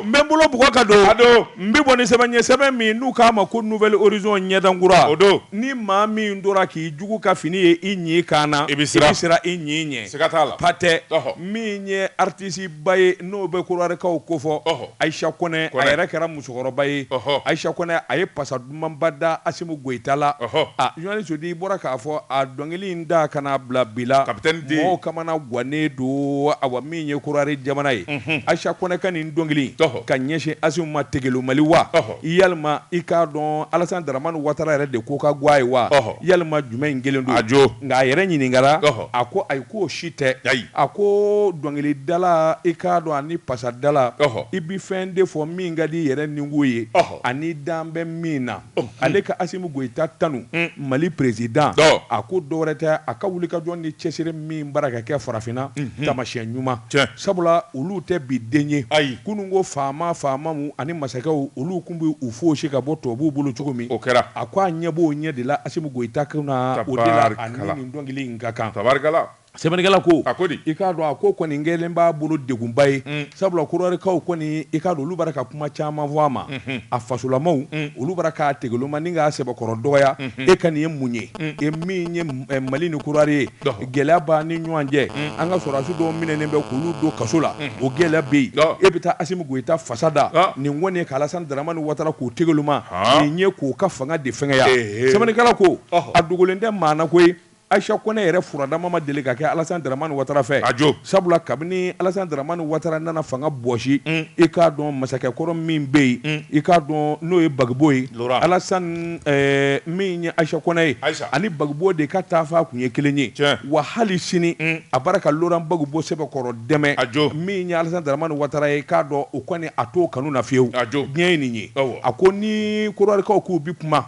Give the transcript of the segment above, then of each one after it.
n bolo bugɔ ka don n bɛ bɔ ni sɛbɛn ye sɛbɛn min n'u k'a ma ko nouvelle horizon ɲɛdankura o don ni maa min tora k'i jugu ka fini ye i ɲin kan na i bɛ siran i ɲin ɲɛ siga t'a la patɛ min ye artisi ba ye n'o bɛ korowarikaw ko fɔ ayisa kɔnɛ a yɛrɛ kɛra musokɔrɔba ye ayisa kɔnɛ a ye pasa Dumanba da Asimu Goyita la, ɔhɔ, journaliste de bɔra k'a fɔ a dɔnkili in da ka n'a bila bi la, Capitaine D, mɔgɔw kamana guwanen don, awa, min ye Korowari jamana ye, unhun, Ayisa Kɔnɛ ka nin dɔnkili in, ɔhɔ, ka ɲɛsin Asimu ma tegelomali wa, ɔhɔ, yalima i k'a dɔn Alasani Daramani Watara yɛrɛ de ko ka go a ye wa, ɔhɔ, yalima jumɛnin kelen don, a jo, nka a yɛrɛ ɲininkara, ɔhɔ, a ko ayi k'o si tɛ, ayi, a ko dɔnkilidala i k'a dɔn ani pasadala, ɔhɔ, i bɛ fɛn de fɔ min ka di i yɛrɛ nikun ye, ɔhɔ. ani dan bɛ min na ale ka Asimu Goyita tanu Mali president a ko dɔwɛrɛ tɛ a ka wulikajɔ ni cɛsiri min bara ka kɛ farafinna tamasiyɛn ɲuman sabula olu tɛ bi den ye kunun ko faama faamaw ani masakɛw olu kun bɛ u fosi ka bɔ tubabuw bolo cogo min o kɛra a ko a ɲɛ b'o ɲɛ de la Asimu Goyita kunna o de la a ni nin dɔnkili in ka kan. Sɛbɛnnikɛla ko a ko di i k'a dɔn a ko kɔni kɛlen b'a bolo degunba ye mm. sabula korowarikaw kɔni i k'a dɔn olu bara ka kuma caman fɔ a ma mm-hmm. a fasolamaw mm. olu bara k'a tegeloma ni k'a sɛbɛkɔrɔ dɔgɔya mm-hmm. e ka nin ye mun ye mm. e min ye eh, mali ni korowari ye gɛlɛya b'a ni ɲɔgɔn cɛ an ka sɔrɔdasi dɔw minɛnen bɛ k'olu don kaso la o gɛlɛya bɛ yen e bɛ taa asimu goyita fasa da ah. nin kɔni ye ka alasani daramani watara k'o tegeloma ah. nin ye k'o ka fanga de fɛngɛya sɛbɛnnikɛla ko a dogolen tɛ maa na koyi Ayisa kɔnɛ yɛrɛ furadama ma deli ka kɛ alasani daramani watara fɛ a jo sabula kabini alasani daramani watara nana fanga bɔsi i k'a dɔn masakɛ kɔrɔ min bɛ yen i k'a dɔn n'o ye bagibo ye alasani min ye ayisa kɔnɛ ye ani bagibo de ka taafan kun ye kelen ye wa hali sini a bara ka loran bagibo sɛbɛkɔrɔ dɛmɛ a jo min ye alasani daramani watara ye k'a dɔn o kɔni a t'o kanu na fiyewu a jo diɲɛ ye nin ye a ko ni korowarikaw k'u bɛ kuma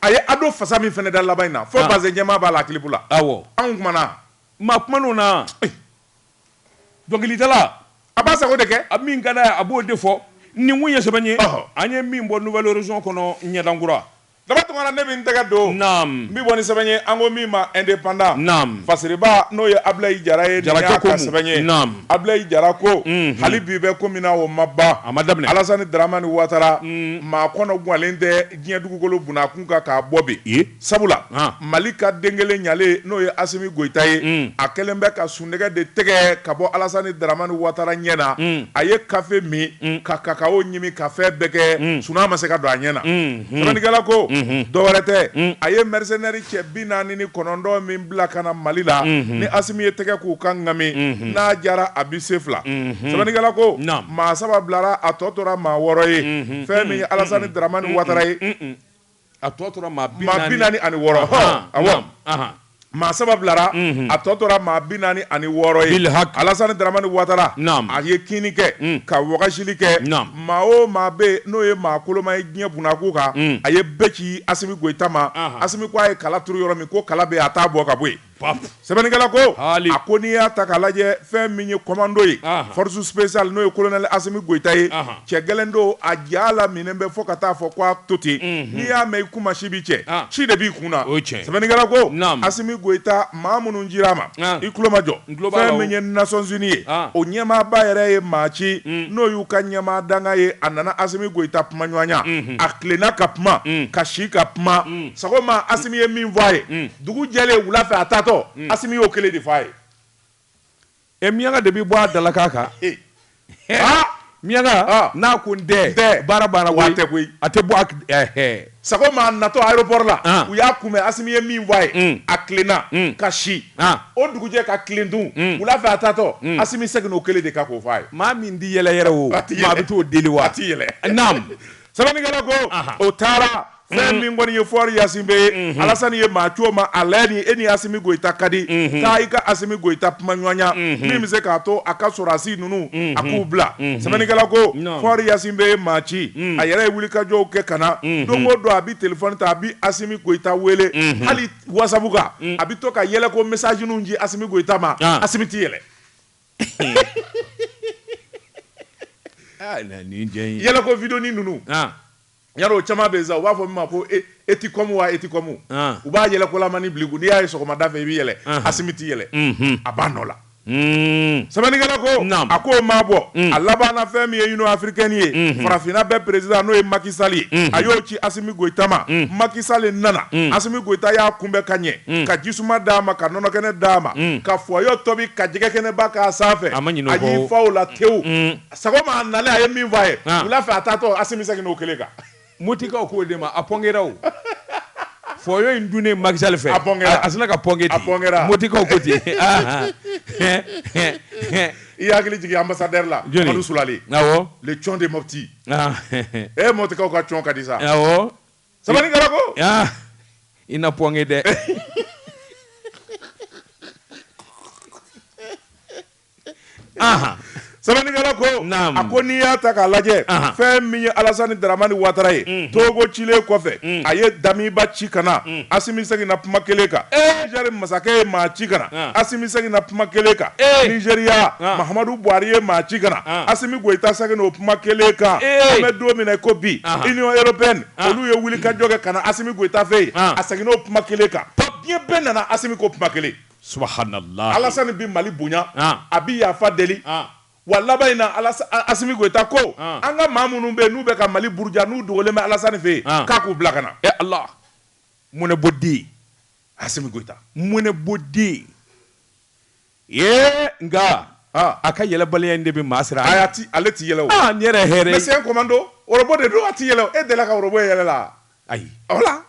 A ye Ado fasa min fana da laban in na, fɔ bazɛn jɛman b'a la a kilipu la. Awɔ. Anw kumana. Maa kuman'o na. Dɔnkilidala. A b'a sago de kɛ. A min ka d'a ye, a b'o de fɔ. Nin kun ye sɛbɛn ye. Ɔhɔ. An ye min bɔ Nouvelle Horizon kɔnɔ ɲɛdan kura. Daba Tunkara, ne bɛ n tɛgɛ don. Naamu. N bɛ bɔ ni sɛbɛn ye, an ko min ma Independant. Naamu. Fasiribaa, n'o ye Abilayi Jara ye. Jarakɛ ko mun? Nin y'a ka sɛbɛn ye. Naamu. Abilayi Jara ko hali bi bɛ ko min na o ma ban, a ma daminɛ, Alasani Daramani Watara maa kɔnɔ guwanlen tɛ diɲɛ dugukolo bunakun kan k'a bɔ bi, sabula Mali ka den kelen ɲɛlen n'o ye Asimi Goyita ye, a kɛlen bɛ ka sunɔgɔ de tɛgɛ ka bɔ Alasani Daramani Watara ɲɛ na, a ye kafe min ka kakao ɲimi ka fɛn bɛɛ kɛ, sunaa ma se ka don a ɲɛ na. Sɛbɛnnikɛla ko, unhun, dɔ wɛrɛ tɛ, un, a ye mercenaires cɛ bi naani ni kɔnɔntɔn min bila ka na Mali la, unhun, ni Asimi ye tɛgɛ k'u kan ŋami, unhun, n'a diyara a bɛ se fila, unhun, sɛbɛnnikɛla ko, naamu, maa saba bilara a tɔ tora maa wɔɔrɔ ye, unhun, fɛn min ye Alasani Daramani Watara ye, a tɔ tora maa bi naani ani wɔɔrɔ, ɔhɔ, awɔ. Maa saba bilara a tɔ tora maa bi naani ani wɔɔrɔ ye alasani dramani watara a ye kinni kɛ ka wagasili kɛ maa o maa bɛ n'o ye maa koloma ye diɲɛ bunakun kan a ye bɛɛ ci asimi goyita ma asimi ko a ye kala turu yɔrɔ min ko kala bɛ a t'a bɔ ka bɔ yen sɛbɛnnikɛla ko a ko n'i y'a ta k'a lajɛ fɛn min ye kɔmando ye force spéciale n'o ye kolonɛli asimi goyita ye cɛ gɛlɛn don a ja la minɛn bɛ fɔ ka taa fɔ ko a to ten mhm. n'i y'a mɛn i kunmasi bi cɛ ah. si de b'i kun na sɛbɛnnikɛla ko asimi goyita maa minnu cira a ma ah. i tulo majɔ fɛn min ye nasɔnzini ye ah. o ɲɛmaaba yɛrɛ ye maa ci mm. n'o y'u ka ɲɛmaa dankan ye a nana asimi goyita kuma ɲɔgɔnya mhm. a tilenna ka kuma mm. ka si ka kuma mm. sagoma asimi ye min fɔ a ye dugu jɛlen wula fɛ a taatɔ asimi y'o kelen de fɔ a ye Ɛ miyanka de bɛ bɔ a dalakan kan aa miyanka n'a ko n tɛ baara banna wa tɛ koyi a tɛ bɔ sagoma a natɔ aéroport la u y'a kunbɛn Asimi ye min fɔ a ye a tilenna ka si o dugujɛ ka tilen tun wula fɛ a taatɔ Asimi seginna o kelen de kan k'o fɔ a ye maa min tɛ yɛlɛ yɛrɛ o maa bɛ t'o deli wa a tɛ yɛlɛ naam sɛbɛnnikɛla ko o taara fɛn mm. min kɔni ye fɔri ɲasingbe ye mm-hmm. alasani ye maa ci o ma a lajɛ ni e ni asimi goyita ka di mm-hmm. taa i ka asimi goyita kuma ɲɔgɔnya mm-hmm. min bɛ se k'a to a ka sɔrɔdasi ninnu a k'u bila sɛbɛnnikɛla ko fɔri ɲasingbe ye maa ci mm. a yɛrɛ ye wulikajɔw kɛ ka na don o don a bɛ telefɔni ta a bɛ asimi goyita wele hali wasabu kan mm. a bɛ to ka yɛlɛko mesazi ninnu ci asimi goyita ma ah. asimi tɛ yɛlɛ. Yɛlɛko vidéo ninnu yan o caman bɛ sa u b'a fɔ min ma ko e etikɔmu wa etikɔmu u b'a yɛlɛkolamani bil'i kun n'i y'a ye sɔgɔmada fɛ i bɛ yɛlɛ asimi tɛ yɛlɛ a b'a nɔ la sɛbɛnnikɛla ko a ko maa bɔ a laban na fɛn min ye Union africaine ye farafinna bɛɛ président n'o ye makisali ye a y'o ci asimi goyita ma makisali nana asimi goyita y'a kunbɛn ka ɲɛ Mm. ka jisuma d'a ma ka nɔnɔkɛnɛ d'a ma mm. ka fɔyɔ tobi ka jɛgɛkɛnɛba k'a sanfɛ a y'i fa o la tewu mm. sagoma a nalen a ye min fɔ a ye ah. wula fɛ a taatɔ asimi seginna o kelen kan motikaw k'o de ma a pɔnkera o fɔyɔ in dunnen makisali fɛ a pɔnkera a sina ka pɔnke ten a pɔnkera motikaw ko ten ah, ah. i hakili jigin ambassadeur la Madu Sulali awɔ le cɔn de Mopti ee motikaw ka cɔn ka di sa awɔ sɛbɛnnikɛla ko aa i na pɔnge dɛ sɛbɛnnikɛla ko a ko n'i y'a ta k'a lajɛ fɛn min ye alasani daramani watara ye mhm. togo cilen kɔfɛ mhm. a ye damiba ci ka na mhm. asimi seginna kuma kelen kan eh! nizɛri masakɛ ye maa ci ka na asimi seginna kuma kelen kan eh! nizeriya mahamadu buhari ye maa ci ka na asimi Goyita seginna o kuma kelen kan an bɛ don min na ko bi Union européenne olu ye wulikajɔ kɛ ka na Asimi Goyita fɛ yen a seginna o kuma kelen kan diɲɛ bɛɛ nana Asimi ko kuma kelen subahanalayi Alasani bɛ Mali bonya a bɛ yafa deli wa laban in na Asimi Goyita ko an ka maa minnu bɛ yen n'u bɛ ka Mali buruja n'u dogolen bɛ Alasani fɛ yen k'a k'u bila ka na e Ala mɔnɛbɔden Asimi Goyita mɔnɛbɔden Ee nka a ka yɛlɛbaliya in de bɛ maa siran ale tɛ yɛlɛ n yɛrɛ hɛrɛ mais c'est un commando ɔrɔbɔ de don a tɛ yɛlɛ e delila ka ɔrɔbɔ ye yɛlɛ la ayi voilà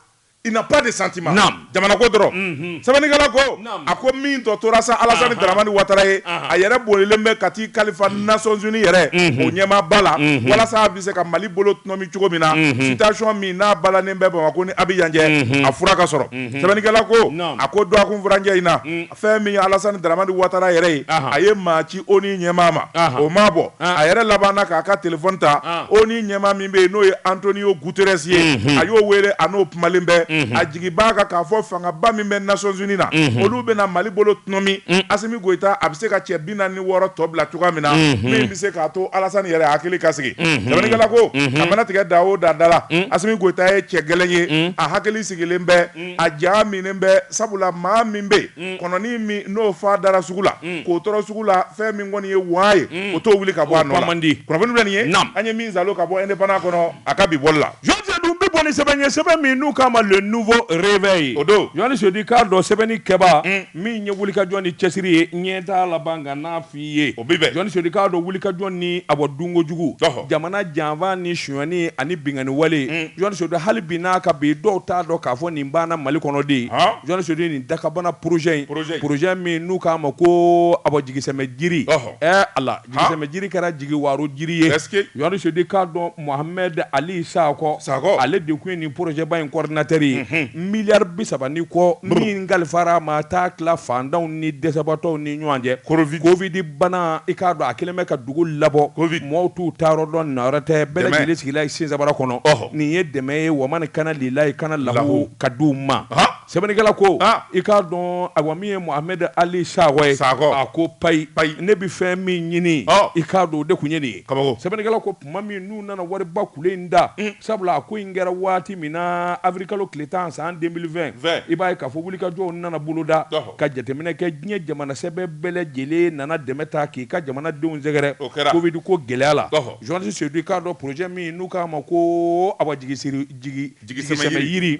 il n'a pas de sentiment jamana ko dɔrɔn sɛbɛnnikɛla ko a ko min tɔ tora sa Alasani Daramani Watara ye a yɛrɛ bolilen bɛ ka t'i kalifa Nations Unies yɛrɛ o ɲɛmaaba la walasa a bɛ se ka mali bolo tɔnɔmi cogo min na situation min n'a balannen bɛ Bamakɔ ni Abidjan cɛ a fura ka sɔrɔ sɛbɛnnikɛla ko a ko dɔgɔkun furancɛ in na fɛn min ye Alassane Dramane Ouattara yɛrɛ ye, anhan, a ye maa ci ONU ɲɛmaa ma, anhan, o m'a bɔ, an, a yɛrɛ labanna k'a ka telephone ta, an, ONU ɲɛmaa min bɛ yen n'o ye Antonio Guterres ye, unhun, a y'o wele a n'o kumalen bɛ, unhun, a jigi b'a kan k'a fɔ fangaba min bɛ Nations Unies na, unhun, olu bɛna Mali bolo tɔnɔmi, un, Assimi Goita a bɛ se ka cɛ 46 tɔ bila cogoya min na, unhun, min bɛ se k'a to Alassane yɛrɛ hakili ka sigi, unhun, sɛbɛnnikɛla ko, unhun, a mana tigɛ da o da da la, un, Assimi Goita ye cɛ gɛlɛn ye, un, a hakili sigilen bɛ a ja minɛnen bɛ sabula maa min bɛ yen kɔnɔnin min n'o fan dara sugu la k'o tɔrɔ sugu la fɛn min kɔni ye waa ye o t'o wuli ka bɔ a nɔ la kunnafoni bɛ nin ye an ye min zalo ka bɔ indépendant kɔnɔ a ka bi bɔli la jeli Sedu n bɛ bɔ ni sɛbɛn ye sɛbɛn min n'u k'a ma le nouveau réveil o don jeli Sedu i k'a dɔn sɛbɛnni kɛba min ye wulikajɔ ni cɛsiri ye ɲɛtaa laban ye o bɛ jeli sedu i k'a dɔn wulikajɔ ni a bɔ dunko jugu jamana janfa ni sonyani ani binkanni wale mm. jeli sedu hali bi n'a ka bi dɔw t'a dɔn k'a fɔ nin banna mali kɔnɔ dɛ jeli sedu nin dakabana porozɛ in porozɛ min n'u k'a ma ko a bɔ jigisɛmɛ jiri ɛ ala jigisɛmɛ jiri kɛra jigiwaaro jiri ye jeli sedu i k'a dɔn Mohamed Ali Sakɔ, Sakɔ, ale de kun ye nin projet ba in coordinateur ye, unhun, miliyari bi saba ni kɔ min kalifara a ma a t'a tila faantanw ni dɛsɛbaatɔw ni ɲɔgɔn cɛ, Covid, Covid bana i k'a dɔn a kɛlen bɛ ka dugu labɔ, Covid, mɔgɔw t'u taayɔrɔ dɔn na wɛrɛ tɛ, bɛɛ lajɛlen sigila ye sensabara kɔnɔ, ɔhɔ, nin ye dɛmɛ ye wa man kana lilayi kana lahu ka di u ma, han, sɛbɛnnikɛla ko, han, i k'a dɔn ayiwa min ye Mohamed Ali Sakɔ ye, Sakɔ, a ko payi, payi, ne bɛ fɛn min ɲini, ɔ, i k'a dɔn o de kun ye nin ye, kabako, sɛbɛnnikɛla ko tuma min n'u nana wariba kule in da mm. sabula a ko in kɛra waati min na avril kalo tile tan san 2020 i b'a ye k'a fɔ wulikajɔw nana boloda ka jateminɛ kɛ diɲɛ jamana sɛbɛ bɛɛ lajɛlen nana dɛmɛ ta k'i ka jamanadenw sɛgɛrɛ covid ko gɛlɛya la journaliste sedu i k'a dɔn projet min n'u k'a ma ko awa jigisɛmɛ yiri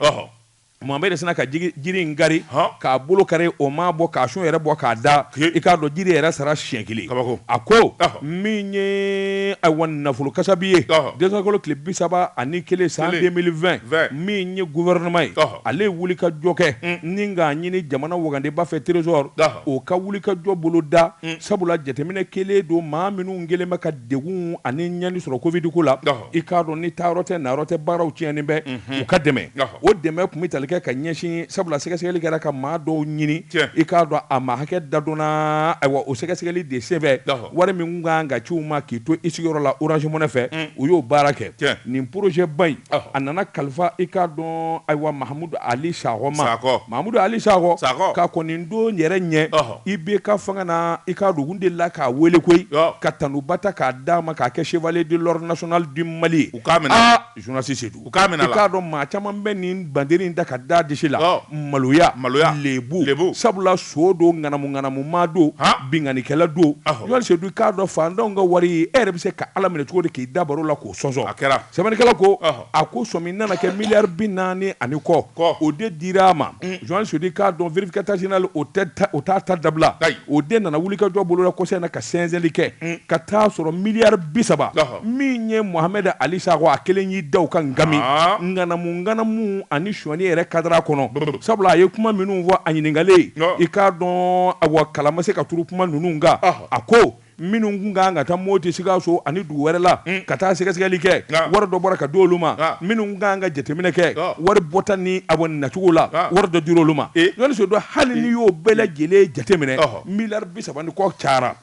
Mohamed sinna ka jiri in kari k'a bolo kari o ma bɔ k'a sun yɛrɛ bɔ k'a da i k'a dɔn jiri yɛrɛ sara siɲɛ kelen a ko min ye ayiwa nafolo kasabi ye décembre kalo tile bi saba ani kelen san 2020 min ye gouvernement ye ale wulikajɔ kɛ ni k'a ɲini jamana wagandeba fɛ trésor o ka wulikajɔ boloda sabula jateminɛ kɛlen don maa minnu kɛlen bɛ ka degun ani ɲani sɔrɔ covid ko la i k'a dɔn ni taayɔrɔ tɛ nayɔrɔ tɛ baaraw tiɲɛnen bɛ u ka dɛmɛ o dɛmɛ tun bɛ tali kɛ ka ɲɛsin sabula sɛgɛsɛgɛli kɛra ka maa dɔw ɲini i k'a dɔn a maa hakɛ da dɔnna ayiwa o sɛgɛsɛgɛli de senfɛ wari min tun kan ka ci u ma k'i to i sigiyɔrɔ la Orange Money fɛ u y'o baara kɛ nin projet ba in a nana kalifa i k'a dɔn ayiwa Mahamudu Ali Sakɔ ma Mahamudu Ali Sakɔ k'a kɔni don yɛrɛ ɲɛ IBK fanga na, i k'a dɔn, u delila k'a wele koyi, ka tanuba ta k'a d'a ma, k'a kɛ chevalier de l'ordre national du Mali, u k'a minɛ a la, aa journaliste Sedu, u k'a minɛ a la, i k'a dɔn maa caman bɛ nin bandari in ta ka d'a disi la, maloya, maloya, lebu, lebu, sabula son don, ŋanamu ŋanamu maa don, han, binkannikɛla don, ɔhɔ, journaliste Sedu, i k'a dɔn faantanw ka wari, e yɛrɛ bɛ se ka Ala minɛ cogo di k'i da baro la k'o sɔnsɔn, a kɛra, sɛbɛnnikɛla ko, ɔhɔ. A ko sɔmi nana kɛ miliyari bi naani ani kɔ ko o de dira a ma journaliste Sedu i k'a dɔn vérificateur général o t'a ta dabila o de nana wulikajɔ boloda kɔsa in na ka sɛnsɛnli kɛ ka taa a sɔrɔ miliyari bi saba min ye Mohamed Ali Sakɔ a kelen y'i da u kan ŋamu ŋanamu ŋanamu ani sonyali yɛrɛ kadara kɔnɔ sabula a ye kuma minnu fɔ a ɲininkalen i k'a dɔn awa kala ma se ka turu kuma ninnu kan a ko minnu tun ka kan ka taa Moti, Sikaso ani dugu wɛrɛ la ka taa sɛgɛsɛgɛli kɛ, wari dɔ bɔra ka di olu ma, minnu tun ka kan ka jateminɛ kɛ wari bɔta ni a kɔni nacogo la, wari dɔ dira olu ma. journaliste Sedu, hali n'i y'o bɛɛ lajɛlen jateminɛ, miliyari bi saba ni kɔ cayara.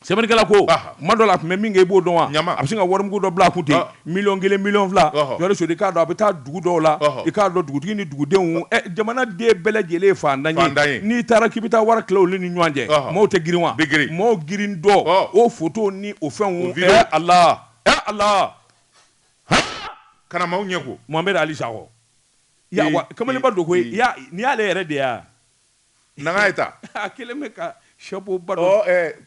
Sɛbɛnnikɛla ko, Tuma dɔ la, a tun bɛ min kɛ, i b'o dɔn wa? A bɛ sin ka warimugu dɔ bila a kun ten. Miliyɔn kelen miliyɔn fila journaliste Sedu i k'a dɔn a bɛ taa dugu dɔw la i k'a dɔn dugutigi ni dugudenw jamanaden bɛɛ lajɛlen faantan ye n'i taara k'i bɛ taa wari tila olu ni ɲɔgɔn cɛ maaw tɛ girin wa girin maaw girintɔ o photo ni o fɛnw a la a la ka na maaw ɲɛ ko Mohamed Ali Sakɔ kamalenba don koyi n'i y'ale yɛrɛ de yan Nana ye ta a kelen bɛ ka chapeau ba don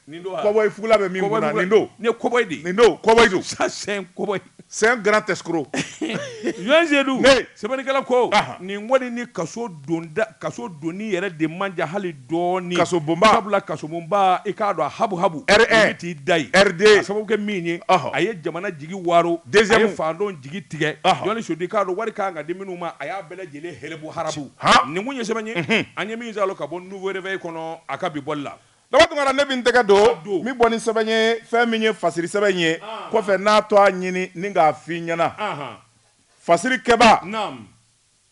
nin don cowboy fugula bɛ min kunna nin don ne cowboy de nin don cowboy don ça c'est un cowboy c'est un grand escroc journaliste Seydou sɛbɛnnikɛla ko nin kɔni ni ka kaso donni yɛrɛ de man jan hali dɔɔnin kaso bonba sabula kasobonba i k'a dɔn habu habu t'i da ye riden sababu kɛ min ye a ye jamana jigi waaro a ye faantanw jigi tigɛ Seydou i k'a dɔn wari k' kan ka di minnu ma a bɛɛ lajɛlen hɛrɛbu harabu han nin kun ye sɛbɛn ye unhun an ye min zalo ka bɔ nouveau réveil kɔnɔ a ka bi bɔli la Daba Tunkara ne bɛ n tɛgɛ don n bɛ bɔ ni sɛbɛn ye fɛn min ye fasiri sɛbɛn in ye kɔfɛ n n'a tɔgɔ ɲini ni k'a f'i ɲɛna fasiri kɛbaa naam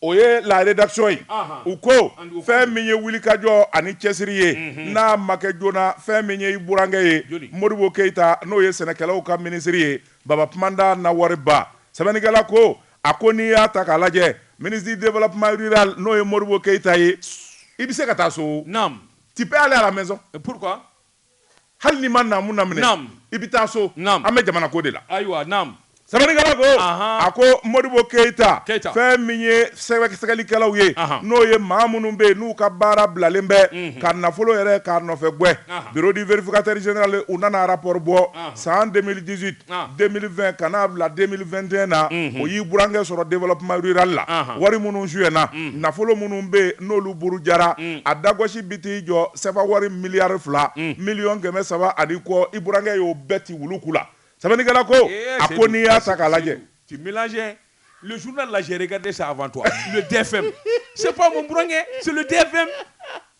o ye la rédaction ye u ko fɛn min ye wulikajɔ ani cɛsiri ye n'a ma kɛ joona fɛn min ye i burankɛ ye Modibo Keyita n'o ye sɛnɛkɛlaw ka minisiri ye Baba Tumanda Nawariba sɛbɛnnikɛla ko A ko n'i y'a ta k'a lajɛ ministre du développement rural n'o ye Modibo Keyita ye, i bɛ se ka taa so o, naamu, tu peux aller à la maison, et pourquoi? hali n'i ma naamu laminɛ, naamu, i bɛ taa so, naamu, an bɛ jamana ko de la, ayiwa, naamu. Sɛbɛnnikɛla ko, anhan, a ko Modibo Keyita, Keyita, fɛn min ye sɛgɛsɛgɛlikɛlaw ye, anhan, n'o ye maa minnu bɛ yen n'u ka baara bilalen bɛ, unhun, ka nafolo yɛrɛ k'a nɔfɛ gwɛn, anhan, bureau du vérificateur général u nana rapport bɔ, anhan, san 2018. 2020 ka n'a bila 2021 na o y'i burankɛ sɔrɔ développement rural la wari minnu suyɛna nafolo minnu bɛ yen n'olu burujara a dagosi bɛ t'i jɔ sefa wari miliyari fila miliyɔn kɛmɛ saba ani kɔ i burankɛ y'o bɛɛ ti wulu ku la sɛbɛnnikɛla ko a ko n'i y'a ta k'a lajɛ tu mélanges le journal là j'ai regardé ça avant toi le DFM c'est pas mon burankɛ c'est le DFM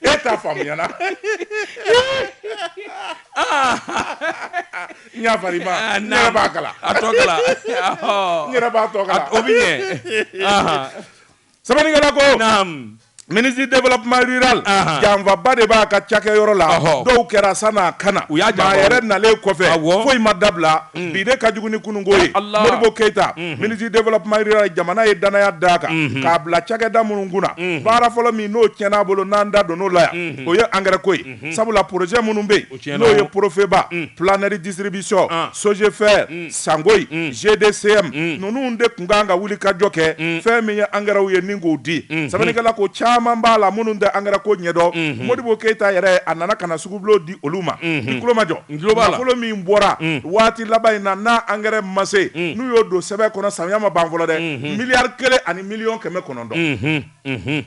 e t'a faamuya na n y'a fari ma ah, n yɛrɛ b'a kalan a tɔ kalan n yɛrɛ b'a tɔ kalan o bɛ ɲɛ sɛbɛnnikɛla ko ministre du développement rural janfaba de b'a ka cakɛyɔrɔ la dɔw kɛra sann'a ka na u y'a a yɛrɛ nalen kɔfɛ foyi ma dabila mm. bi de ka jugu ni kununko ye Modibo Keyita mm-hmm. ministre du développement rural jamana ye danaya d'a kan mm-hmm. k'a bila cakɛda minnu kunna mm-hmm. baara fɔlɔ min n'o tiɲɛn'a bolo n'an da donn'o la yan o ye engrais ko ye sabula projet minnu bɛ yen n'o ye Profeba Planète Distribution Sogefert Sangoye GDCM ninnu de tun kan ka wuli ka jɔ kɛ fɛn min ye engrais ye ni k'o di sɛbɛnnikɛla ko caman b'a la minnu tɛ engrais ko ɲɛdɔn Modibo Keyita yɛrɛ a nana ka na sugubulon di olu ma i tulo majɔ nafolo min bɔra waati laban in na n'a engrais ma se n'u y'o don sɛbɛn kɔnɔ samiya ma ban fɔlɔ dɛ miliyari kelen ani miliyɔn kɛmɛ kɔnɔntɔn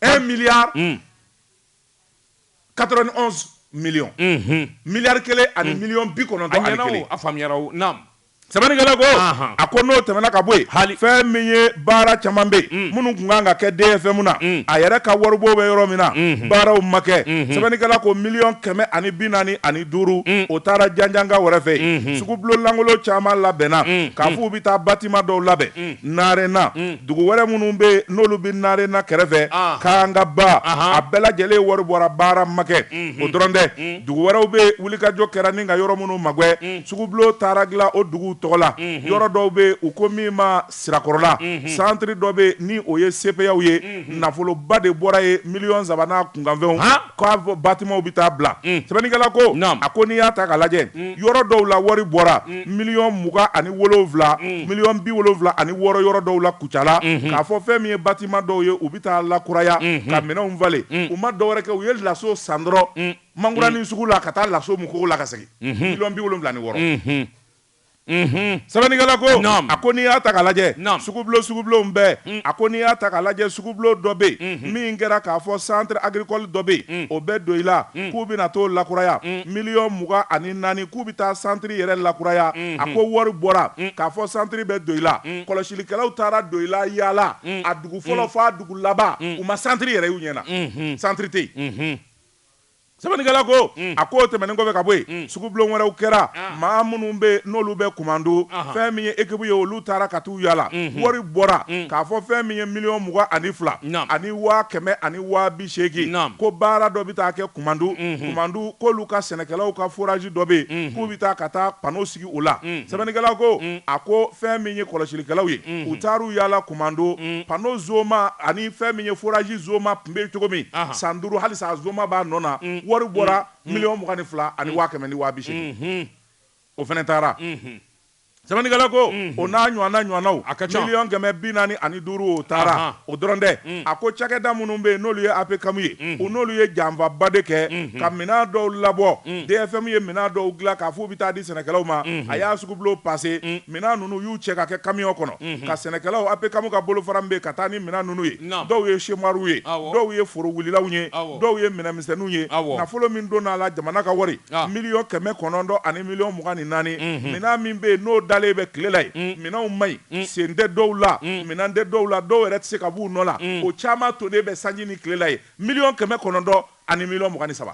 un milliard quatre-vingt-onze millions miliyari kelen ani miliyɔn bi kɔnɔntɔn a faamuya sɛbɛnnikɛla ko a ko n'o tɛmɛna ka bɔ yen fɛn min ye baara caman bɛ minnu tun kan ka kɛ DFM na a yɛrɛ ka waribon bɛ yɔrɔ min na baaraw ma kɛ sɛbɛnnikɛla ko miliyɔn kɛmɛ ani bi naani ani duuru o taara janjanga wɛrɛ fɛ yen sugubulon lankolon caman labɛnna k'a fɔ u bɛ taa bâtiment dɔw labɛn narena dugu wɛrɛ minnu bɛ yen n'olu bɛ narena kɛrɛfɛ Kangaba a bɛɛ lajɛlen wari bɔra baara ma kɛ o dɔrɔn tɛ dugu wɛrɛw bɛ wulikajɔ kɛra ni ka yɔrɔ minnu magɛn sugubulon taara dilan o dugu tɔgɔ la yɔrɔ dɔw bɛ yen u ko min ma sirakɔrɔla santiri dɔ bɛ yen ni o ye CPAw ye nafoloba de bɔra yen miliyɔn saba n'a kunkanfɛnw Bâtimentw bɛ taa bila sɛbɛnnikɛla ko a ko n'i y'a ta k'a lajɛ yɔrɔ dɔw la wari bɔra miliyɔn mugan ani wolowula miliyɔn bi wolowula ani wɔɔrɔ yɔrɔ dɔw la Kucala k'a fɔ fɛn min ye bâtiment dɔw ye u bɛ taa lakuraya ka minɛnw falen u ma dɔwɛrɛ kɛ u ye laso san dɔrɔn mankuranin sugu la ka taa laso mu kogo la ka segin miliyɔn bi wolowula ni wɔɔrɔ sɛbɛnnikɛla ko a ko n'i y'a ta k'a lajɛ sugubulonw bɛɛ mm. a ko n'i y'a ta k'a lajɛ sugubulon dɔ bɛ yen mm-hmm. min kɛra k'a fɔ centre agricole dɔ bɛ yen mm. o bɛ Doyila mm. k'u bɛna t'o lakuraya miliyɔn mugan ani naani k'u bɛ taa santiri yɛrɛ lakuraya a mm-hmm. ko wari bɔra k'a fɔ santiri bɛ Doyila kɔlɔsilikɛlaw taara Doyila yaala a dugu fɔlɔ fɔ a dugu laban u ma santiri yɛrɛ y'u ɲɛ na mm-hmm. santiri tɛ yen Sɛbɛnnikɛla ko a k'o tɛmɛnen kɔfɛ ka bɔ yen sugubulon wɛrɛw kɛra maa minnu bɛ yen n'olu bɛ Kumantu fɛn min ye équipe ye olu taara ka t'u yaala wari bɔra k'a fɔ fɛn min ye miliyɔn mugan ani fila ani waa kɛmɛ ani waa bi seegin ko baara dɔ bɛ taa kɛ Kumantu Kumantu k'olu ka sɛnɛkɛlaw ka forage dɔ bɛ yen k'u bɛ taa ka taa panneau sigi o la sɛbɛnnikɛla ko a ko fɛn min ye kɔlɔsilikɛlaw ye u taar'u yaala Kumantu panneau zoma ani fɛn min ye forage zoma tun bɛ cogo min san duuru halisa zoma b'a nɔ na wari bɔra miliyɔn mugan ni fila ani waa kɛmɛ ni waa bi seegin o fana taara sɛbɛnnikɛla ko o n'a ɲɔgɔnna ɲɔgɔnnaw a ka ca miliyɔn kɛmɛ bi naani ani duuru o taara o dɔrɔn tɛ a ko cakɛda minnu bɛ yen n'olu ye APCAM ye o n'olu ye janfaba de kɛ ka minɛn dɔw labɔ DFM ye minɛn dɔw dilan k'a fɔ u bɛ taa di sɛnɛkɛlaw ma a y'a sugubulon passé minɛn ninnu y'u cɛ ka kɛ camion kɔnɔ ka sɛnɛkɛlaw APCAM ka bolofara min bɛ ka taa ni minɛn ninnu ye dɔw ye semoirw ye dɔw ye foro wulilaw ye dɔw ye minɛnmisɛnninw ye nafolo min donn'a la jamana ka wari miliyɔn kɛmɛ kɔnɔntɔn ani miliyɔn mugan ni naani minɛn min bɛ yen n'o dalen bɛ tile la yen minɛnw ma ɲi sen tɛ dɔw la minɛn tɛ dɔw la dɔw yɛrɛ tɛ se ka b'u nɔ la o caman tolen bɛ sanji ni tile la yen miliyɔn kɛmɛ kɔnɔntɔn ani miliyɔn mugan ni saba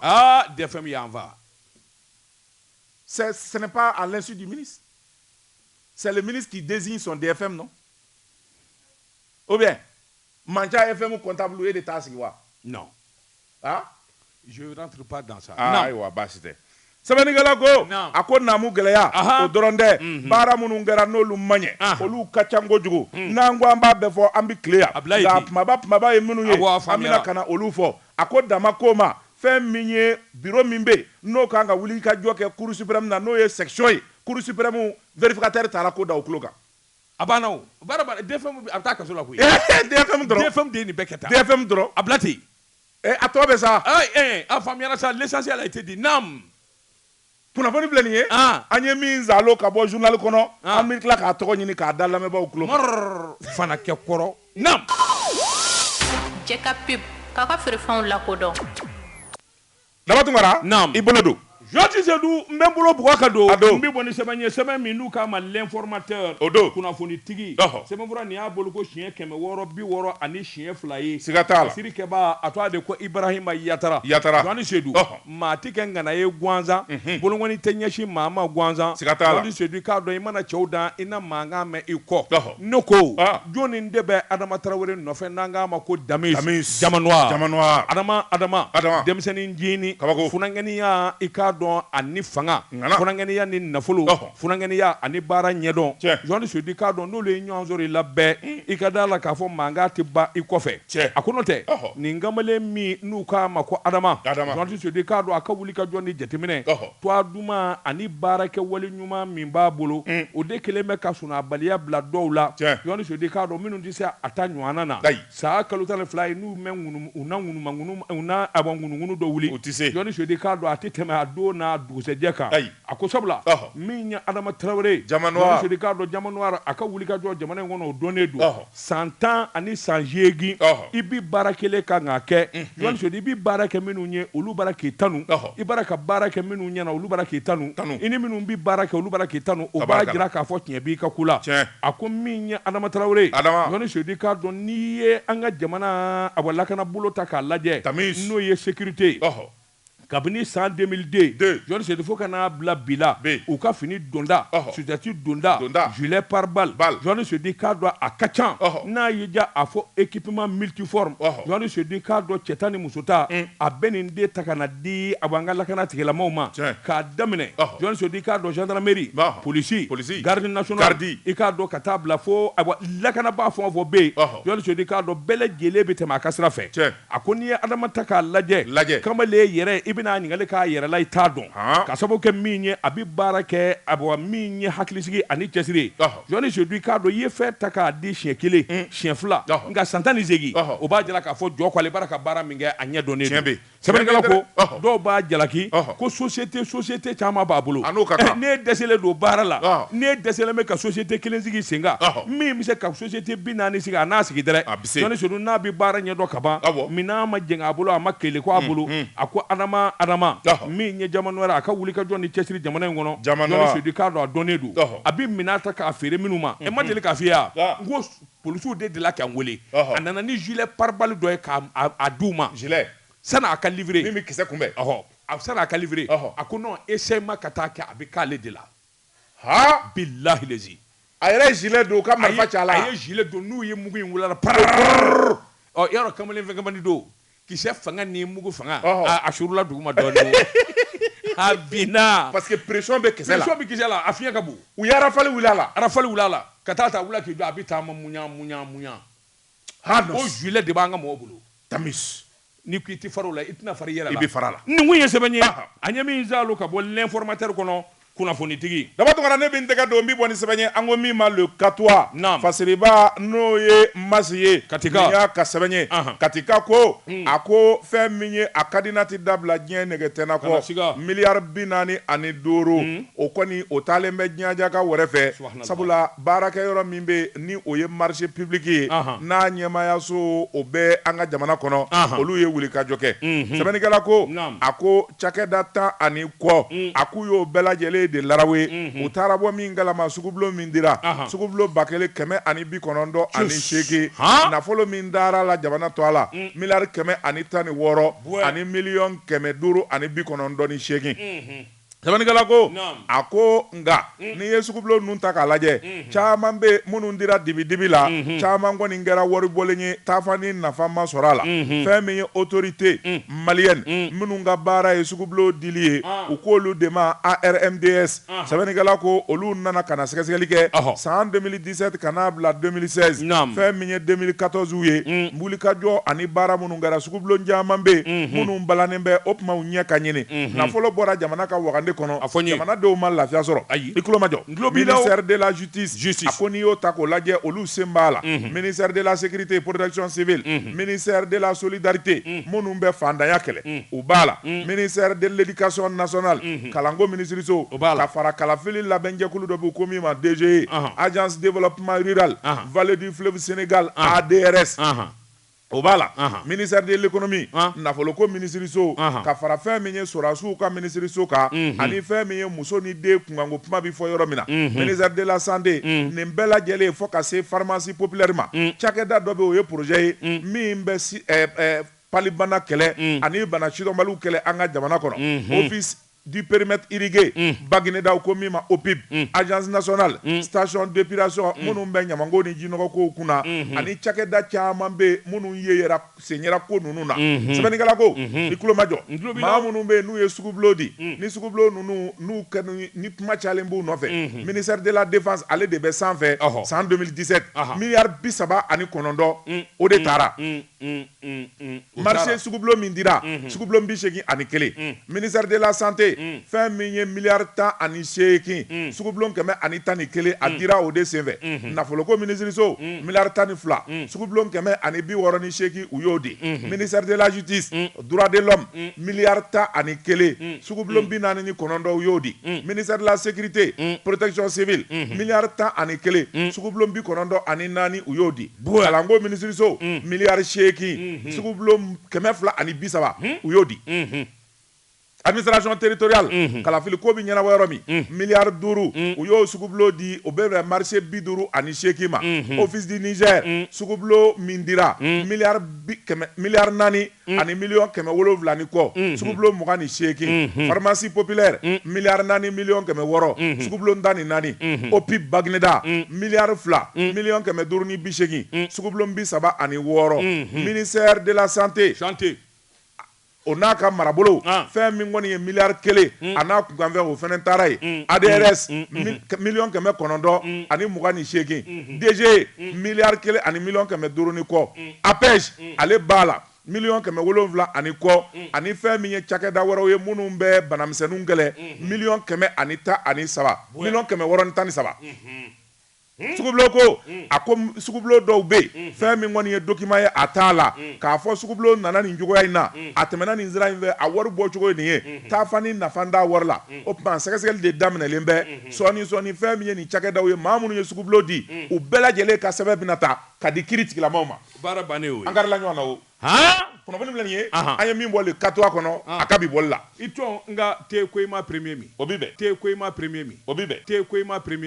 DFM peut pas signer à l'insu du ministre c'est le ministre qui désigne son DFM non Ou bien manca FM comptable e de t'a sigi wa? Non. Ah? Je rentre pas dans ça. Ah, ayiwa baasi tɛ. Sɛbɛnnikɛla ko, naamu, a ko naamu gɛlɛya, ahan, o dɔrɔn tɛ, unhun, baara minnu kɛra n'olu ma ɲɛ, ahan, olu ka ca kojugu, un, n'an ko an b'a bɛɛ fɔ an bɛ tile yan, a bila ye ten, nka a kumaba kumaba ye minnu ye, awɔ, a faamuyara, an bɛna ka na olu fɔ. A ko dan ma k'o ma, fɛn min ye biro min bɛ yen n'o ka kan ka wulikajɔ kɛ Cour suprême na n'o ye section ye, Cour suprême vérificateur taara ko da o tulo kan. A banna o baara banna DFM a bɛ taa kaso la koyi, ee DFM dɔrɔn, DFM de ye nin bɛɛ kɛ tan, DFM dɔrɔn, a bila ten, ee a tɔ bɛ sa, ee a faamuyara sa l'essentiel a été dit, naamu, kunnafoni filɛ nin ye, an, an ye min zalo ka bɔ journal kɔnɔ, an, an bɛ tila k'a tɔgɔ ɲini k'a da lamɛnbaaw tulo kan, mɔrɔrɔrɔrɔ, fana kɛ kɔrɔ, naamu. Jɛka pub, k'aw ka feerefɛnw lakodɔn. Daba Tunkara i bolo don Jɔni Sedu n bɛ n bolo bɔ k'a don n bɛ bɔ ni sɛbɛn ye sɛbɛn min n'u k'a ma L'Informateur kunnafonitigi sɛbɛnfura nin y'a bolo ko siɲɛ kɛmɛ wɔɔrɔ bi wɔɔrɔ ani siɲɛ fila ye siga t'a la sirikɛba a twa de ko Ibrahima Yatara Jɔni Sedu maa tɛ kɛ ŋana ye gansan bolokɔni tɛ ɲɛsin maa ma gansan Jɔni Sedu k'a dɔn i mana cɛw dan i na mankan mɛn i kɔ Ne ko jɔn nin de bɛ adama tarawele nɔfɛ n'an k'a ma ko Damis Diamant Noir Adama denmisɛnnincinin funankɛninya i k'a dɔn ani fanga funankɛninya ni nafolo funankɛninya ani baara ɲɛdɔn Jɔni Sedu k'a dɔn n'olu ye ɲɔgɔn sɔrɔ i la bɛɛ i ka da la k'a fɔ mankan tɛ ban i kɔfɛ cɛ a kɔnɔ tɛ nin kamalen min n'u k'a ma ko Adama Jɔni Sedu k'a dɔn a ka wulikajɔ ni jateminɛ Twa duman ani baarakɛwale ɲuman min b'a bolo, o de kelen bɛ ka sunɔɔbaliya bila dɔw la, Jɔni Sedu k'a dɔn minnu tɛ se a ta ɲɔɔnna na. San kalo tan ni fila i n'u mɛn ŋunuŋunu na, ŋunuŋunu na, awɔ, ŋunuŋunu dɔ wuli, o tɛ se, Jɔni Sedu k'a dɔn a tɛ tɛmɛ a don n'a dugusɛjɛ kan, ayi, a ko sabula, ɔhɔ, min ye Adama Tarawele ye, Diamant Noir, Jɔni Sedu k'a dɔn Diamant Noir a ka wulikajɔ jamana in kɔnɔ o dɔnnen don, ɔhɔ. San tan ani san seegin i bɛ baara kelen kan k'a kɛ Jɔni Sedu i bɛ baara kɛ minnu ye olu b'a ra k'i tanu i b'a ra ka baara kɛ minnu ɲɛna olu b'a ra k'i tanu i ni minnu bɛ baara kɛ olu b'a ra k'i tanu o b'a jira k'a fɔ tiɲɛ b'i ka ko la a ko min ye Adama Tarawele Jɔni Sedu k'a dɔn n'i ye an ka jamanaba lakana bolo ta k'a lajɛ n'o ye sécurité Kabini san 2002 Jɔni Sedu fo ka n'a bila bi la, u ka fini donda, sudɛti donda, gilet pare-balles, Jɔni Sedu k'a dɔn a ka ca, n'a y'i diya a fɔ équipement multiforme, Jɔni Sedu k'a dɔn cɛta ni musota, a bɛ nin de ta ka na di a bɔ an ka lakana tigilamɔɔw ma, k'a daminɛ Jɔni Sedu k'a dɔn gendarmerie, police, garde nationale, i k'a dɔn ka taa bila fo, ayiwa lakanabaa fɛn o fɛn bɛ yen, Jɔni Sedu k'a dɔn bɛɛ lajɛlen bɛ tɛmɛ a ka sira fɛ. A ko n'i ye Adama ta k'a lajɛ, lajɛ. kamalen yɛrɛ i bɛna a ɲininkali k'a yɛrɛ la i t'a dɔn, haan, k'a sababu kɛ min ye a bɛ baara kɛ ayiwa min ye hakilisigi ani cɛsiri ye, ɔhɔ, Jɔni Sedu i k'a dɔn i ye fɛn ta k'a di siɲɛ kelen, un, siɲɛ fila, ɔhɔ, nka san tan ni seegin, ɔhɔ, o b'a jira k'a fɔ jɔ ko ale b'a la ka baara min kɛ a ɲɛ dɔnnen don, tiɲɛ bɛ yen, sɛbɛnnikɛla ko, ɔhɔ, dɔw b'a jalaki, ɔhɔ, ko sosiyete sosiyete caman b'a bolo, a n'o ka kan, n'e dɛsɛlen don baara la, ɔhɔ, n'e dɛsɛlen bɛ ka sosiyete kelen sigi senkan, ɔhɔ, min bɛ se ka sosiyete bi naani sigi a n'a sigi dɛrɛ, a Sedu n'a bɛ baara ɲɛdɔn ka ban minɛn ma jɛngɛ a bolo a ma kɛlɛku a bolo a ko adama adama min ye Diamant Noir a ka wulikajɔ ni cɛsiri jamana in kɔnɔ Jɔni Sedu k'a dɔn a dɔnnen don a bɛ minɛn ta k'a feere minnu ma e ma deli k'a fɔ yan ko polisiw delila k'an weele a nana ni gilet pare-balles dɔ ye k'a d'u ma sani a k'a livrer min bɛ kisɛ kunbɛn sani a k'a livrer a ko ni essai ma ka taa kɛ a bɛ k'ale de la haa bilahi lezi a yɛrɛ ye gilet don ka marifa ci a la a ye gilet don n'u ye mugu in wuli a la parrrr ɔ yɔrɔ kamalen fɛn kamalen don kisɛ fanga ni mugu fanga a surula duguma dɔɔni a binna parce que pression bɛ kisɛ la pression bɛ kisɛ la a fiɲɛ ka bon u ye arafali wuli a la arafali wuli a la ka taa ta wula k'i jɔ a bɛ taama muɲa muɲa muɲa ko gilet de b'an ka mɔgɔw bolo Damis n'i ko i tɛ fara o la i tɛna fara i yɛrɛ la i bɛ fara a la nin kun ye sɛbɛn ye an ye min saalo ka bɔ l'informateur kɔnɔ kunnafonitigi Daba Tounkara ne bɛ n tɛgɛ don n bɛ bɔ ni sɛbɛn ye an ko min ma Le Katois naam fasiriba n'o ye masi ye katika y'a ka sɛbɛn ye katika ko hmm. a ko fɛn min ye a ka di n'a tɛ dabila diɲɛ nege tɛna kɔ miliyari bi naani ani duuru hmm. o kɔni o taalen bɛ jaja ka wɛrɛ fɛ sabula baarakɛyɔrɔ min bɛ ni o ye marché public ye n'a ɲɛmaayaso o bɛ an ka jamana kɔnɔ olu ye wulikajɔ kɛ sɛbɛnnikɛla ko a ko cakɛda tan ani kɔ a k'u y'o bɛɛ lajɛlen de larawe u taara bɔ min kalama sugubulon min dira sugubulon ba kelen kɛmɛ ani bi kɔnɔntɔn ani seegin nafolo min dara la jamana to a la miliyari kɛmɛ ani tan ni wɔɔrɔ ani miliyɔn kɛmɛ duuru ani bi kɔnɔntɔn ni seegin Sɛbɛnnikɛla ko, a ko, nka n'i ye sugubulon ninnu ta k'a lajɛ, caman bɛ yen minnu dira dibidibi la, caman kɔni kɛra waribɔlen ye taafan ni nafa ma sɔrɔ a la, fɛn min ye autorité malienne minnu ka baara ye sugubulon dili ye, u k'olu de ma ARMDS, sɛbɛnnikɛla ko, olu nana ka na sɛgɛsɛgɛli kɛ san 2018 2017 ka n'a bila 2016 Naam. fɛn min ye 2014 u ye Mm. wulikajɔ ani baara minnu kɛra sugubulon caman bɛ yen minnu balannen bɛ o tuma u ɲɛ ka ɲini nafolo bɔra jamana ka wagande kɔnɔ A fɔ n ye. jamanadenw ma lafiya sɔrɔ Ayi. i tulomajɔ N tulo b'i la o. ministère de la justice Justice. a ko n'i y'o ta k'o lajɛ olu sen b'a la ministère de la sécurité et protection civile ministère de la solidarité minnu bɛ faantanya kɛlɛ u b'a la ministère de l'éducation nationale kalanko minisiriso ka fara kalafili labɛnjɛkulu dɔ b'u ko min ma DGE agence développement rural vallée du fleuve Sénégal ADRS o b'a la ministère de l'économie nafoloko minisiriso ka fara fɛn min ye sɔrɔdasiw ka minisiriso kan ani fɛn min ye muso ni den kunkanko kuma bɛ fɔ yɔrɔ min na ministère de la santé nin bɛɛ lajɛlen fo ka se pharmacie populaire ma cakɛda dɔ bɛ o ye projet ye min bɛ palibana kɛlɛ ani bana sidɔnbaliw kɛlɛ an ka jamana kɔnɔ office du périmètre irrigué Bagineda u ko min ma OPIB agence nationale station d'épuration minnu bɛ ɲamanko ni jinɔgɔkow kunna ani cakɛda caman bɛ minnu ye yera sen yera ko ninnu na sɛbɛnnikɛla ko i tulomajɔ maa minnu bɛ n'u ye sugubulon di ni sugubulon ninnu n'u kɛnɛ ni kuma cayalen b'u nɔfɛ ministère de la défense ale de bɛ sanfɛ san 2017 miliyari bi saba ani kɔnɔntɔn o de taara marché sugubulon min dira sugubulon bi seegin ani kelen ministère de la santé fɛn min ye miliyari tan ani seegin sugubulon kɛmɛ ani tan ni kelen a dira o de senfɛ nafoloko minisiriso miliyari tan ni fila sugubulon kɛmɛ ani bi wɔɔrɔ ni seegin u y'o di ministère de la justice droit de l'homme miliyari tan ani kelen sugubulon bi naani ni kɔnɔntɔn u y'o di ministère de la sécurité protection civile miliyari tan ani kelen sugubulon bi kɔnɔntɔn ani naani u y'o di kalanko minisiriso miliyari seegin sugubulon kɛmɛ fila ani bi saba u y'o di administration territoriale kalafili ko bɛ ɲɛnabɔ yɔrɔ min miliyari duuru u y'o sugubulon di o bɛ marché bi duuru ani seegin ma office du Niger sugubulon min dira miliyari naani Mm. ani miliyɔn kɛmɛ wolonwula ni kɔ mm-hmm. sugubulon mugan ni seegin mm-hmm. pharmacie populaire mm. miliyari naani miliyɔn kɛmɛ wɔɔrɔ mm-hmm. sugubulon tan ni naani OPIB Bagineda mm. miliyari fila miliyɔn kɛmɛ duuru ni bi seegin sugubulon bi saba ani wɔɔrɔ ministère de la santé o n'a ka marabolo ah. fɛn min kɔni ye miliyari kelen mm. a n'a kunkanfɛn o fana taara ye mm. ADRS mm. mm-hmm. miliyɔn kɛmɛ kɔnɔntɔn ani mugan ni seegin mm-hmm. DGE miliyari kelen ani miliyɔn kɛmɛ duuru ni kɔ APEJ ale b'a la miliyɔn kɛmɛ wolonwula ani kɔ ani fɛn min ye cakɛda wɛrɛw ye minnu bɛ banamisɛnninw kɛlɛ miliyɔn kɛmɛ ani tan ani saba miliyɔn kɛmɛ wɔɔrɔ ni tan ni saba sugubulon ko a ko sugubulon dɔw bɛ yen fɛn min kɔni ye document ye a t'a la k'a fɔ sugubulon nana nin cogoya in na a tɛmɛna nin sira in fɛ a wari bɔ cogo ye nin ye taa ni nafa t'a wari la o tuma sɛgɛsɛgɛli de daminɛlen bɛ sɔɔni sɔɔni fɛn min ye nin cakɛdaw ye maa minnu ye sugubulon di u bɛɛ lajɛlen ka sɛbɛn bɛna ta Ka di kiiri tigilamaw ma. Baara bannen y'o ye. An karila ɲɔgɔn na o. Haan! Kunnafoni filɛ nin ye. Anhan! An ye min bɔ Le Katois kɔnɔ. An! A ka bi bɔli la. I tɔn, nka te Koyima premier min. O bi bɛn. Te Koyima premier min. O bi bɛn. Te Koyima premier